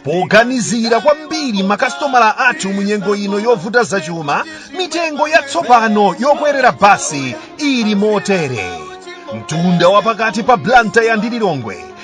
poganizira kwambiri makasitomala athu mu nyengo ino yovuta zachuma mitengo yatsopano yokwerera basi ili motere mtunda wapakati pa blantyre ndi lilongwe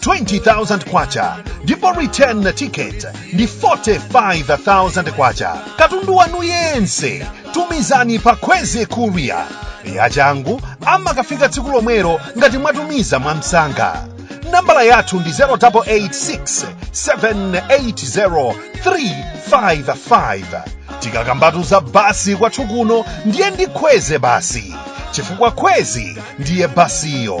20,000 kwacha ndipo return ticket ndi 45,000 kwacha katundu wanu yense tumizani pa kwezy courier yachangu amakafika tsiku lomwelo ngati mwatumiza mwamsanga nambala yathu ndi 0886 780 355 tikakambatu za basi kwathu kuno ndiye ndi kwezy basi chifukwa kwezy ndiye basiyo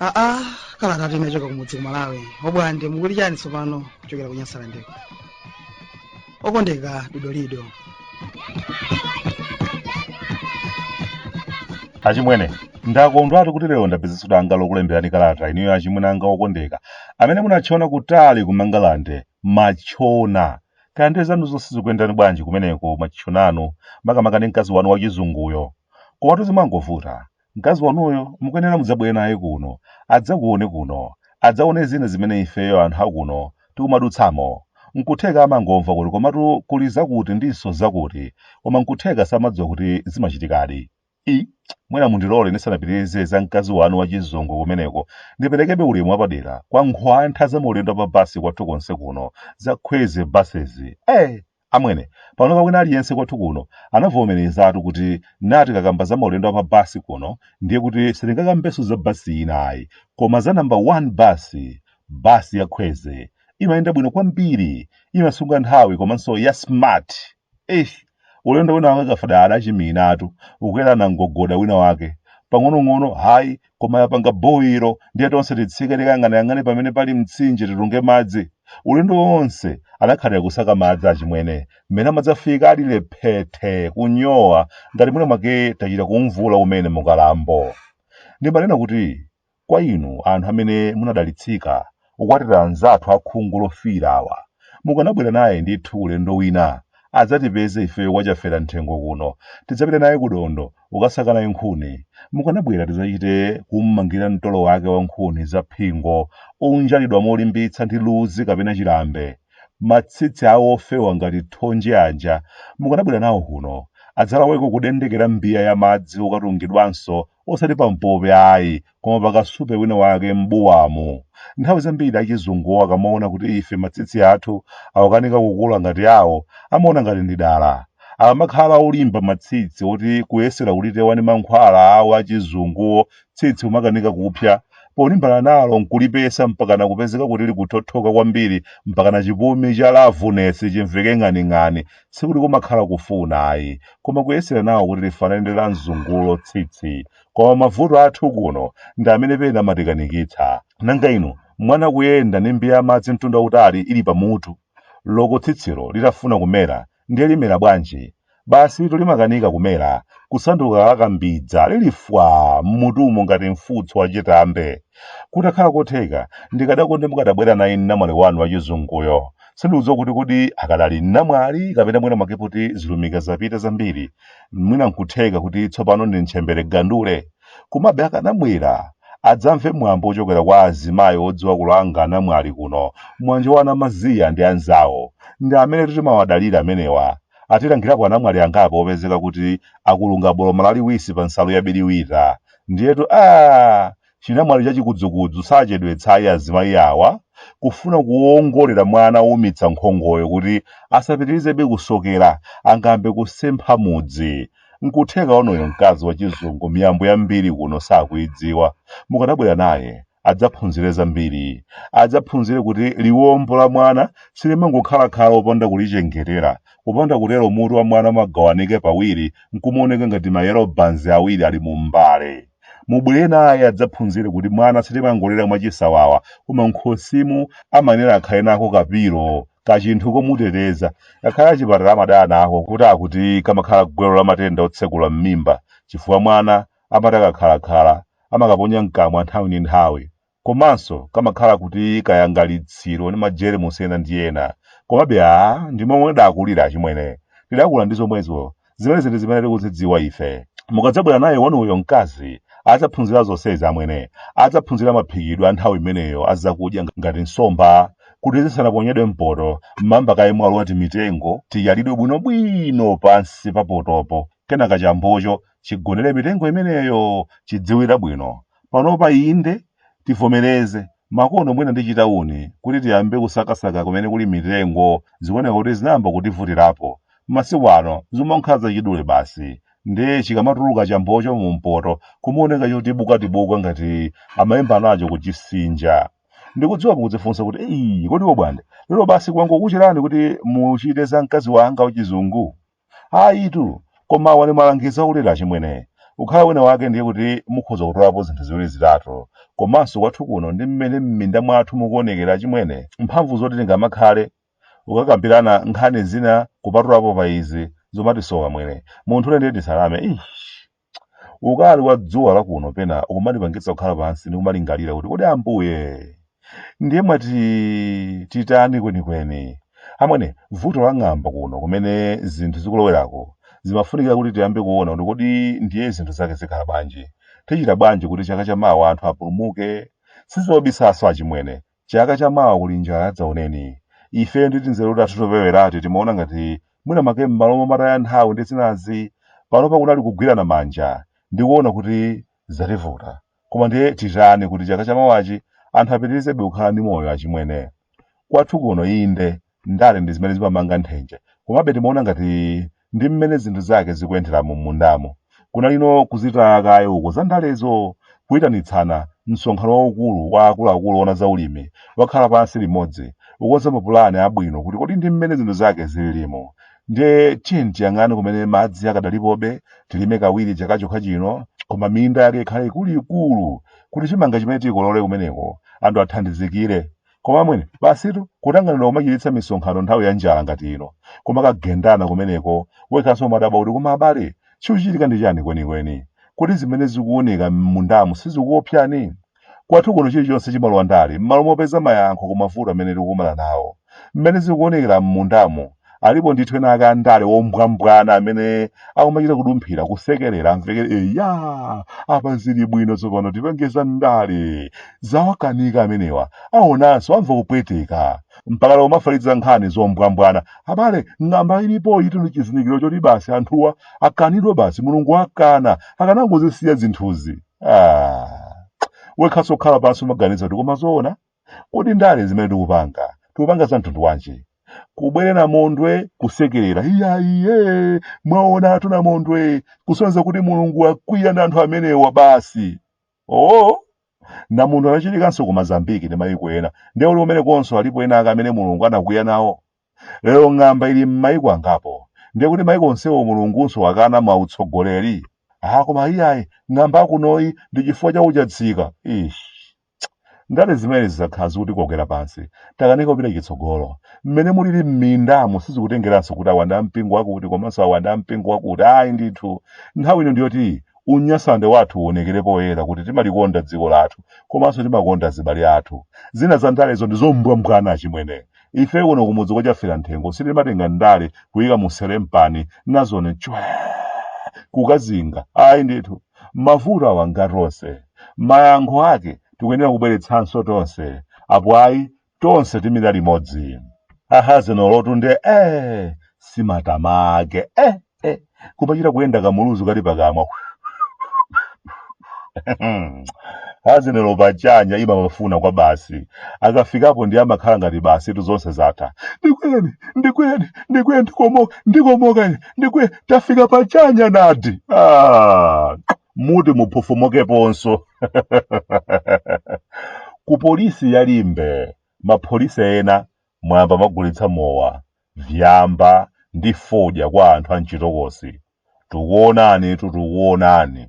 aa kalata tinachoka kumudzi ku malawi obwande mukuti chani tsopano kuchokera ku nyasalandeko okondeka dodolido achimwene ndakondwatu kuti lero ndapezanso danga lokulemberani kalata inuyo achimwene anga okondeka amene munatchona kutali ku mangalande matchona kaya ndiye zanu zonse zikuyendani bwanji kumeneko matchonanu makamaka ndi mkazi wanu wachizunguyo komatu zimangovuta Mkazi wanuyo mukuyenera mudzabwere naye kuno, adzakuwone kuno, adzawone zina zimene ifeyo anthu a kuno tikumadutsamo. Nkutheka amangomva kuti komatu kuli zakuti ndinso zakuti, koma nkutheka samadziwa kuti zimachitikadi. I, mwina mundilole ndisanapitirize za mkazi wanu wa chizungu kumeneko, ndiperekebe ulemu wapadera kwa nkhwantha za maulendo a pa basi kwathu konse kuno, za Kwezy Buses. Eh! Amwene, panopa wina aliyense kwathu kuno anavomerezatu kuti naye tikakamba za maulendo a pa basi kuno ndiye kuti sitingakambenso za basi ina ayi, koma za namba 1 basi, basi ya Kwezy. Imayenda bwino kwambiri, imasunga nthawi komanso ya smart. Eish! Ulendo winawake Kafadala adachiminatu, kukwera namgogoda winawake. Pang'onong'ono, hayi, koma yapanga boyiro ndiye tonse titsike tikayang'anayang'ane pamene pali mtsinje titunge madzi ulendo wonse anakhalira kusaka madzi achimwene mmene amadzafika ali lephethe kunyowa ngati mwina mwake tachita kumvula umene mukalambo ndimanena kuti kwa inu anthu amene munadalitsika kukwatira anzathu akhungu lofiira awa. Mukanabwera naye ndithu ulendo wina, adzatipeze ifeyo kwa Chafera Mthengo kuno. Tidzapite naye kudondo kukasaka naye nkhuni. Mukanabwera tidzachite kum'mangira mtolo wake wa nkhuni za phingo, onjatidwa molimbitsa ndi luzi kapena chilambe. Matsitsi awo ofewa ngati thonje aja, mukanabwera nawo kuno, adzalaweko kudendekera mbiya ya madzi okatungidwanso osati pa mpope ayi koma pakasupe wina wake m'buwamo nthawi zambiri achizunguwo akamaona kuti ife matsitsi athu akukanika kukula ngati awo amaona ngati ndi dala akamakhala olimba matsitsi oti kuyesera kulitiwa ndi mankhwala awo achizunguwo tsitsi kumakanika kupsa polimbana nalo nkulipesa mpakana kupezeka kuti likuthothoka kwambiri mpakana chipumi cha lavunesi chimveke ng'aning'ani sikuti kumakhala kufuna ayi koma kuyesera nawo kuti lifanane ndi la mzungulo tsitsi koma mavuto athu kuno ndi amene pena amatikanikitsa nanga inu mwana kuyenda ndi mbiya ya madzi mtunda utali ili pamutu loko tsitsilo litafuna kumera ndiye limera bwanji basi lito limakanika kumera kusanduka lakambidza lilifwa mmutumo ngati mfutso wachitambe kutakhala kotheka ndikadakonde mukadabwera naye namwali wanu wachizunguyo sindikudziwa kuti kodi akadali namwali kapena mwina mwake kuti zilumika zapita zambiri mwina nkutheka kuti tsopano ndi ntchembere gandule komabe akanabwera adzamve mwambo wochokera kwa azimayi odziwa kulanga namwali kuno mwanjo wa a Namaziya ndi anzawo ndi amene timawadalira amenewa atilangirapo anamwali angapo opezeka kuti akulunga boloma laliwisi pa nsalu yabiriwira ndiyetu a Chinamwali cha chikudzukudzu sachedwetsa ayi azimayi awa kufuna kuwongolera mwana owumitsa nkhongoyo kuti asapitirizebe kusokera, angambe kusempha mudzi. Nkutheka wanuyo mkazi wa chizungu miyambo yambiri kuno sakuyidziwa. Mukadabwera naye adzaphunzire zambiri. Adzaphunzire kuti liwombo la mwana silimangokhala khala opanda kulichengetera. Kupanda kutero mutu wa mwana umagawanika pawiri nkumaoneka ngati ma yellow buns awiri ali mu mbale. Mubwere naye adzaphunzire kuti mwana sitimangolera mwachisawawa koma m'khosimu amayenera akhale nako kapilo, kachinthu komuteteza. Ngakhale achipatala amadana nako kuti akuti kamakhala gwero la matenda otsekula m'mimba chifukwa mwana amati akakhalakhala amakaponya m'kamwa nthawi ndi nthawi. komanso kamakhala kuti kayangalitsiro ndi majeremusi ena ndi ena komabe a ndi momwe tidakulira achimwene tidakula ndi zomwezo zimenezi ndi zimene tikuzidziwa ife mukadzabwera naye wanuyo mkazi adzaphunzira zonsezi amwene adzaphunzira maphikidwe a nthawi imeneyo a zakudya ngati nsomba kuti zisanaponyedwe mpoto mmamba kaye mwalo wa timitengo tiyalidwe bwinobwino pansi pa potopo kenaka chambocho chigonere mitengo imeneyo chidziwire bwino panopa inde tivomereze makono mwina ndi chitauni kuti tiyambe kusakasaka kumene kuli mitengo zikuoneka kuti zinayamba kutivutirapo masiku ano zimankha zachidule basi ndiye chikamatuluka chambocho mu mpoto kumaoneka chotibukatibuka ngati amayimba nacho kuchisinja ndikudziwa mukudzifunsa kuti eyi kodi wobwande lero basi kwangokucherani kuti muchite za mkazi wanga wachizungu ayitu koma awa ndi malangizo akulera achimwene ukhala wina wake ndiye kuti mukhoza kutolapo zinthu ziwiri zitatu komanso kwathu kuno ndi mmene m'minda mwathu mukuonekera achimwene mphamvu zoti tingamakhale ukakambirana nkhani zina kupatulapo pa izi zomatisowa amwene munthu ule ndiye tisalame Eish. Ukali wa dzuwa la kuno pena ukumatipangitsa kukhala pansi ndi kumalingalira kuti kodi Ambuye ndiye mwati titani kwenikweni? Amwene, vuto la ng'amba kuno kumene zinthu zikulowerako zimafunikira kuti tiyambe kuona kuti kodi ndiye zinthu zake zikhala bwanji. Tichita bwanji kuti chaka chamawa anthu apulumuke? Sizobisanso achimwene, chaka cha mawa kuli njala yadzaoneni ifeyo ndi tinzeru tathu topewerati timaona ngati mwina make m'malo momataya nthawi ndi zinazi panopa kunali kugwirana manja ndi kuona kuti zativuta koma ndiye titani kuti chaka cha mawachi anthu apitirizebe kukhala ndi moyo achimwene kwathu kuno inde ndale ndi zimene zimamanga nthenje komabe timaona ngati ndi mmene zinthu zake zikuyendera mu mundamo kunali kuzitaya kaye uko za ndalezo kuyitanitsana msonkhano waukulu wa akuluakulu ona za ulimi akhale pansi limodzi kukonza mapulani abwino kuti kodi ndi mmene zinthu zake zililimo ndiye tiyeni tiyang'ane kumene madzi akadalipobe tilime kawiri chaka chokha chino koma minda yake ikhale ikuluikulu kuti chimanga chimene tikolole kumeneko anthu athandizikire koma amwene basitu kutanganidwa kumachititsa misonkhano nthawi ya njala ngati ino koma kugendana kumeneko wekhanso umadabwa kuti koma abale chikuchitika ndi chani kwenikweni kodi zimene zikuoneka m'mundamu sizikuopsani kwathu kuno chilichonse chimalowa ndale m'malo mopeza mayankho ku mavuto amene tikukumana nawo mmene zikuonekera m'mundamu alipo ndithu ena ake andale ombwambwana amene akumachita kudumphira kusekerera amvekere eya apa zili bwino tsopano tipenge za ndale zawakanika amenewa aonanso amva kupweteka mpaka lero umafalitsa nkhani zombwambwana abale ng'amba ilipo itu ndi chizindikiro choti basi anthuwa akanidwa basi mulungu akana akanangozisiya zinthuzi ah. wekhanso kukhala pansi umaganiza kuti koma zoona Kodi ndale zimene tikupanga, tikupanga za mtundu wanji? Kubwere namondwe kusekerera, iya iye, mwaonatu namondwe, kusonyeza kuti Mulungu wakwiya ndi anthu amenewa basi. Oh, namondwe anachitikanso ku Mazambiki ndi mayiko ena, ndiye kuti kumene konso alipo ena ake amene Mulungu anakwiya nawo. Lero ng'amba ili m'mayiko angapo, ndiye kuti mayiko onsewo Mulungunso wakana mautsogoleri. Ah, koma iyayi, ng'amba yakunoyi ndi chifukwa cha uchatsika. Ish. Ndale zimenezi zakhala zikutikokera pansi. Takanika kupita chitsogolo. Mmene mulili m'mindamu sizikutengeranso kuti awa ndi a mpingo wakuti komanso awa ndi a mpingo wakuti. Ayi ndithu. Nthawi ino ndi yoti unyasalandi wathu uonekere poyera kuti timalikonda dziko lathu komanso timakonda azibale athu. Zina za ndalezo ndi zombwambwana achimwene. Ife kuno kumudzi kwa Chaferamthengo sitimatenga ndale kuika mu selempani n'kuzinena chwee! kukazinga. Ayi ndithu. mavuto awa ngatonse mayankho ake tikuyenera kubweretsanso tonse apo ayi tonse timira limodzi a Hazinelotu nde eh simatama ake eh eh kumachita kuyenda kamuluzu kali pakamwa a Hazinelo pachanya imamufuna kwa basi akafikapo ndiye amakhala ngati basitu zonse zatha ndikwene ndikwene ndikwene ndikomoka ndikomoka ine ndikwe tafika pachanya nati muti mukufumukeponso ku polisi ya Limbe mapolisi ena mwayamba kumagulitsa mowa vyamba ndi fodya kwa anthu a mchitokosi tikuonanitu tikuonani